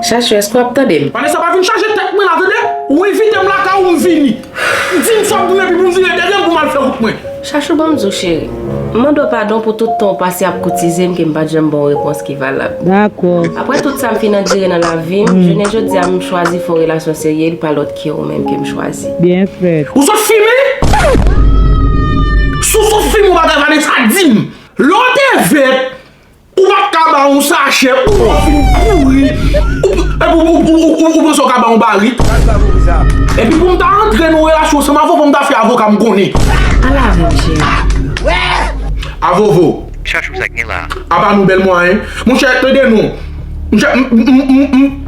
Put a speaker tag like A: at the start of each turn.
A: Chachou eske wap tande m? Vanessa pa vin chaje tèt
B: mwen la tande, ou envite m lakay ou m vini. Di m sa w pou m epi pou m vire dèyè m pou m al fè wout mwen. Chachou ban m di w cheri,
A: m mande w padon pou tout tan w pase ap koutize m ke m pat janm ban w repons ki valab. Aprè
C: tout sa m fin
A: andire nan lavi m, jounen jodi a m chwazi fè w relasyon serye e pa lòt. Ke ou menm ke m chwazi. Byen fèt. Ou sot
C: fime?
B: Si w sot fime ou pa ta Vanessa di m. Lè w te vèt ou pat ka ba yon sachè ou lè w fin kouri ou panse w ka ba yon barik. Epi pou m ta antre nan yon relasyon san mavo fò m ta fè avoka m konnen. Ala moun
A: jere. Avovo.
D: Apa nou bèl mwayen.
B: Monchè tande non. Monchè m m m.